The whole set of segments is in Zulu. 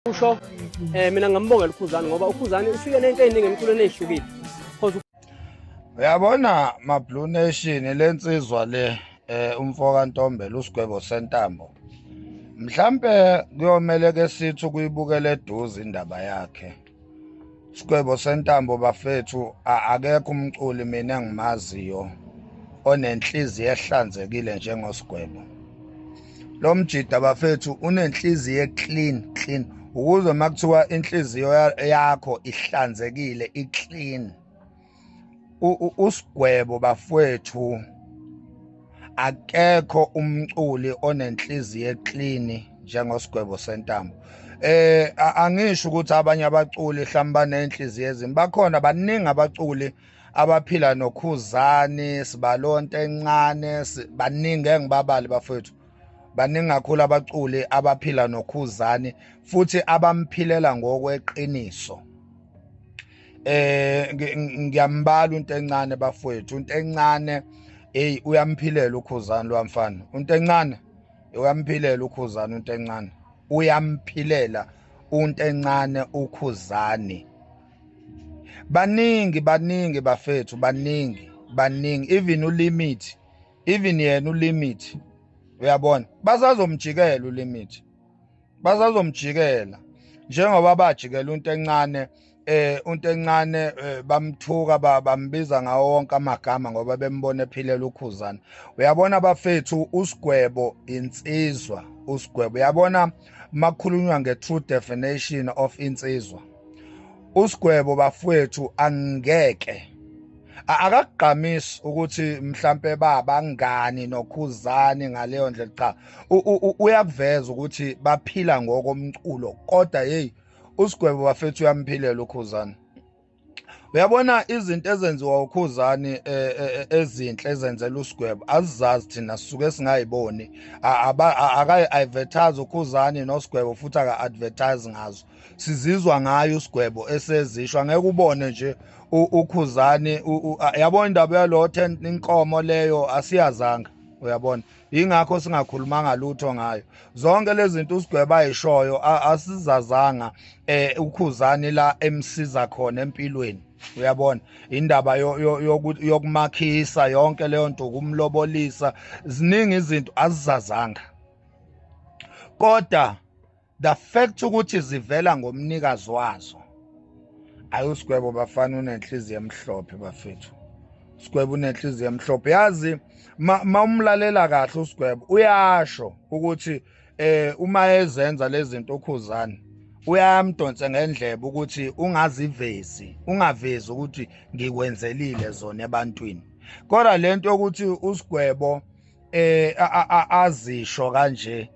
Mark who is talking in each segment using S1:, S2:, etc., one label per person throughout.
S1: kusho eh mina
S2: ngambongela ukhuzani ngoba ukhuzani ufike nento eziningi emculweni ezihlukile uyabona ma blue nation lensizwa le eh umfo kaNtombela usigwebo sentambo mhlambe kuyomele ke sithi ukuyibukela eduze indaba yakhe Sigwebo sentambo bafethu akekho umculi mina engimaziyo onenhliziyo ehlanzekile njengosigwebo. Lo mjida bafethu unenhliziyo eclean clean ukuze makuthiwa inhliziyo yakho ihlanzekile iclean usigwebo bafwethu akekho umculi onenhliziyo eclean njengosigwebo sentambo eh angisho ukuthi abanye abaculi hlamba banenhliziyo ezimbi bakhona baningi abaculi abaphila nokhuzani sibalonto encane baningi engibabali bafethu baningi kakhulu abaculi abaphila nokhuzani futhi abamphilela ngokweqiniso eh ngiyambala into encane bafowethu into encane hey uyamphilela ukhuzani lwamfana into encane uyamphilela ukhuzani into encane uyamphilela unto encane ukhuzani baningi baningi bafethu baningi baningi even ulimit even yena ulimit uyabona basazomjikela ulimit basazomjikela njengoba bajikela into encane eh into encane eh, bamthuka bambiza ngawo wonke amagama ngoba bembona ephilela ukhuzana uyabona bafethu usigwebo insizwa usigwebo uyabona makhulunywa nge-true definition of insizwa usigwebo bafowethu angeke akakugqamisi ukuthi mhlampe baba ngani nokhuzani ngaleyo ndlela cha uyakuveza ukuthi baphila ngokomculo kodwa hey usigwebo bafethu uyamphilela ukhuzana uyabona izinto ezenziwa ukhuzani e, e, e, ezinhle ezenzela usigwebo azizazi thina sisuke singayiboni akayi-advertise ukhuzani nosigwebo futhi aka-advertise ngazo sizizwa ngayo usigwebo esezisho angeke ubone nje ukhuzani yabona indaba yalo 10 inkomo leyo asiyazanga uyabona yingakho singakhulumanga lutho ngayo zonke lezi zinto usigweba ayishoyo asizazanga eh ukhuzani la emsiza khona empilweni uyabona indaba yokumakhisa yonke leyo nto kumlobolisa ziningi izinto azizazanga kodwa the fact ukuthi zivela ngomnikazi wazo ayosigwebo bafana unenhliziyo emhlophe bafethu sigwebo unenhliziyo emhlophe yazi ma umlalela kahle usigwebo uyasho ukuthi eh uma ezenza lezi zinto ukhuzani uyamdonse ngendlebe ukuthi ungazivezi ungavezi ukuthi ngikwenzelile zona ebantwini kodwa lento ukuthi usigwebo eh azisho kanje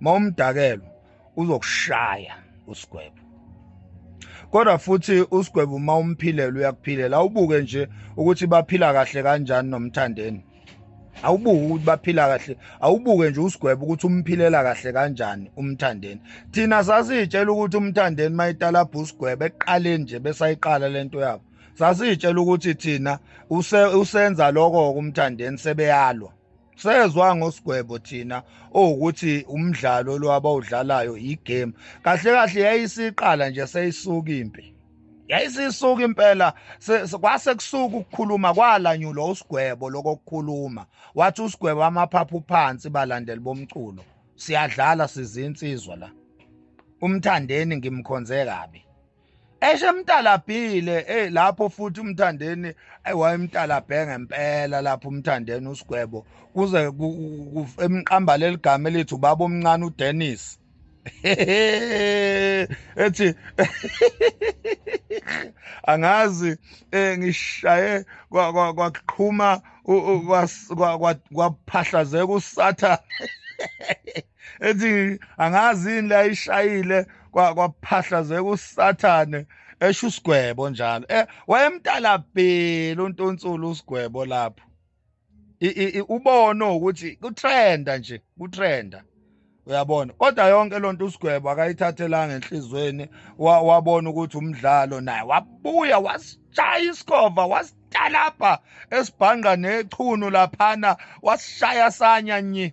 S2: uma umdakelwa uzokushaya usigwebo kodwa futhi usigwebo uma umphilela uyakuphilela awubuke nje ukuthi baphila kahle kanjani nomthandeni awubuke ukuthi baphila kahle awubuke nje usigwebo ukuthi umphilela kahle kanjani umthandeni thina sasitshela ukuthi umthandeni mayitalabha usigwebo eqaleni nje besayiqala lento yabo sasitshela ukuthi thina usenza lokho kumthandeni sebeyalwa sezwa ngosigwebo thina owukuthi umdlalo lo abawudlalayo igame kahle kahle yayisiqala nje seyisuka impi yayisisuka impela kwase kusuka ukukhuluma kwalanyulwa usigwebo lokokukhuluma wathi usigwebo amaphaphu phansi balandeli bomculo siyadlala sizinsizwa la umthandeni ngimkhonze kabi eshe emtalabhile hey lapho futhi umthandeni wayemtalabhe ngempela lapho umthandeni usigwebo kuze emqamba leligama elithi ubaba omncane uDennis ethi angazi eh, ngishaye kwaqhuma kwaphahlazeka usathane ethi angazi yini la ishayile kwaphahlazeka usathane esho usigwebo njalo eh wayemtalabhile untunsulu usigwebo lapho ubono ukuthi kutrenda nje kutrenda uyabona kodwa yonke lonto usigwebo akayithathelanga enhlizweni wabona ukuthi umdlalo naye wabuya wasishaya isikova wasitalabha esibhanqa nechunu laphana wasishaya sanya nyi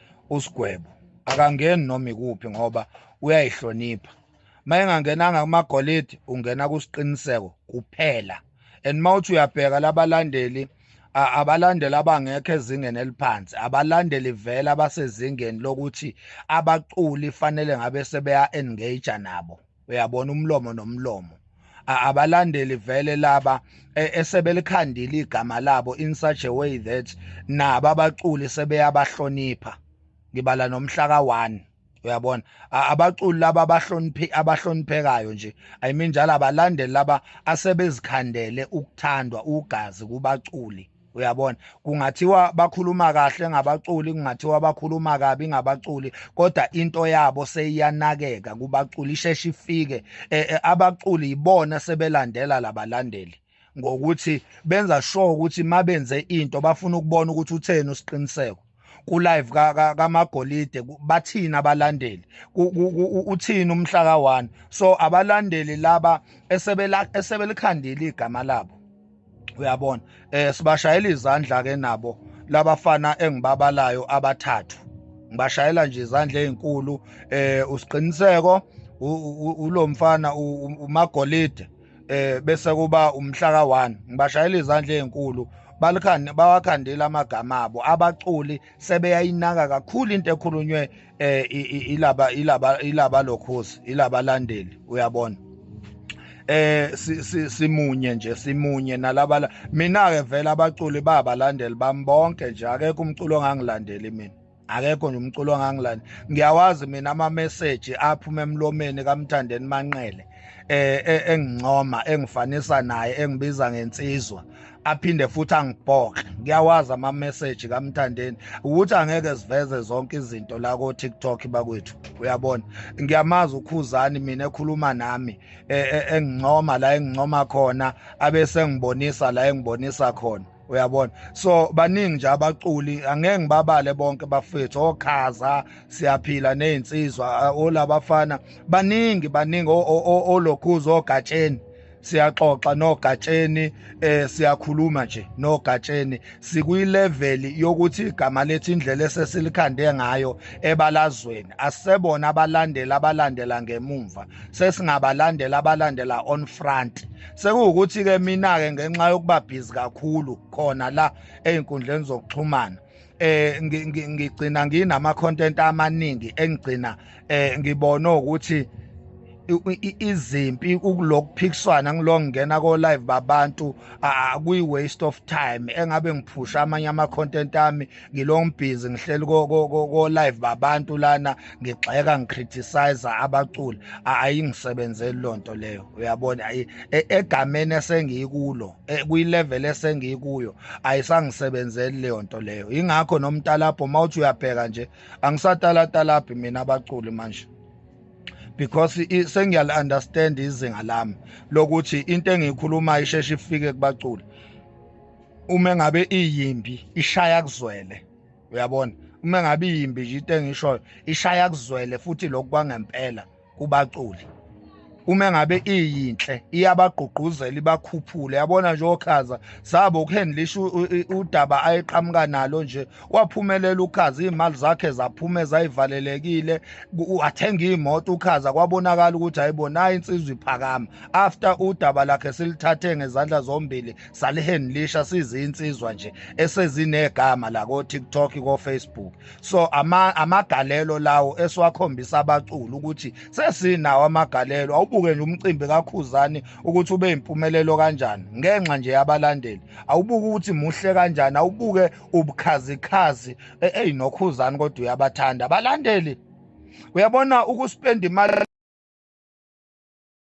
S2: usigwebo akangeni noma ikuphi ngoba uyayihlonipha mayengangenanga kumagolide ungena kusiqiniseko kuphela and mawuthi uyabheka labalandeli abalandeli abangekho ezingeni eliphansi abalandeli vele abasezingeni lokuthi abaculi fanele ngabe sebeya engage nabo uyabona umlomo nomlomo abalandeli vele laba e, esebelikhandile igama labo in such a way that naba abaculi sebeyabahlonipha ngibala nomhlaka 1 uyabona abaculi laba abahloniphi abahloniphekayo nje i mean njalo abalandeli laba asebezikhandele ukuthandwa ugazi kubaculi uyabona kungathiwa bakhuluma kahle ngabaculi kungathiwa bakhuluma kabi ngabaculi kodwa into yabo seyiyanakeka kubaculi isheshe ifike e, e, abaculi yibona sebelandela labalandeli ngokuthi benza sure ukuthi mabenze into bafuna ukubona ukuthi utheni usiqiniseko ku live ka kamagolide bathina abalandeli uthini umhla ka 1 so abalandeli laba esebela esebelikhandile igama labo uyabona eh sibashayela izandla ke nabo labafana engibabalayo abathathu ngibashayela nje izandla ezinkulu eh usiqiniseko ulomfana umagolide eh bese kuba umhla ka1 ngibashayela izandla ezinkulu balikhande bawakhandela amagama abo abaculi sebeyayinaka kakhulu into ekhulunywe eh ilaba ilaba ilaba lokhosi ilaba landeli uyabona eh simunye nje simunye nalaba mina ke vele abaculi babalandeli bami bonke nje akekho umculo ongangilandeli mina akekho nje umculo ongangilani ngiyawazi mina ama-message aphuma emlomeni kamthandeni manqele eh, eh engincoma engifanisa naye engibiza ngensizwa aphinde futhi angibhoxe ngiyawazi ama-message kamthandeni ukuthi angeke siveze zonke izinto la ko-tiktok bakwethu uyabona ngiyamazi ukhuzani mina ekhuluma nami e, e, engincoma la engincoma khona abese ngibonisa la engibonisa khona uyabona so baningi nje abaculi angeke ngibabale bonke bafethu okhaza siyaphila nezinsizwa olabafana baningi baningi olokhuzo ogatsheni siyaxoxa nogatsheni eh siyakhuluma nje nogatsheni sikuyilevel yokuthi igama lethi indlela esesilikhande ngayo ebalazweni asebona abalandeli abalandela ngemumva sesingabalandela abalandela on front sekuwukuthi-ke mina-ke ngenxa yokuba bhizi kakhulu khona la ey'nkundleni zokuxhumana eh ngigcina nginama content amaningi engigcina eh ngibone ukuthi izimpi ukulokuphikiswana ngilongena ko live babantu akuyi waste of time engabe ngiphusha amanye ama content ami ngilong busy ngihleli ko live babantu lana ngigxeka ngicriticize abaculi ayingisebenzeli lonto leyo uyabona e, egameni esengikulo e, kuyi level esengikuyo ayisangisebenzeli leyo nto leyo ingakho nomtalabho mawuthi uyabheka nje angisatalatalabhi mina abaculi manje because sengiyal understand izinga lami lokuthi into engiyikhuluma isheshe ifike kubaculi uma ngabe iyimbi ishaya kuzwele uyabona uma ngabe iyimbi nje into engishoyo ishaya kuzwele futhi lokhu kwangempela kubaculi uma ngabe iyinhle iyabagqugquzela ibakhuphule yabona nje okhaza zabo ukuhandlisha udaba ayeqhamuka nalo nje waphumelela ukhaza iy'mali zakhe zaphume zayivalelekile wathenga iy'moto ukhaza kwabonakala ukuthi hayibo nayo insizwa iphakama after udaba lakhe silithathe ngezandla zombili saliheni lisha sizinsizwa nje esezinegama la ko TikTok ko Facebook so ama amagalelo lawo esiwakhombisa abaculi ukuthi sesinawo amagalelo awubuke nje umcimbi kakhuzani ukuthi ube impumelelo kanjani ngenxa nje yabalandeli awubuke ukuthi muhle kanjani awubuke ubukhazikhazi e, eyi nokhuzani kodwa uyabathanda abalandeli uyabona ukuspenda imali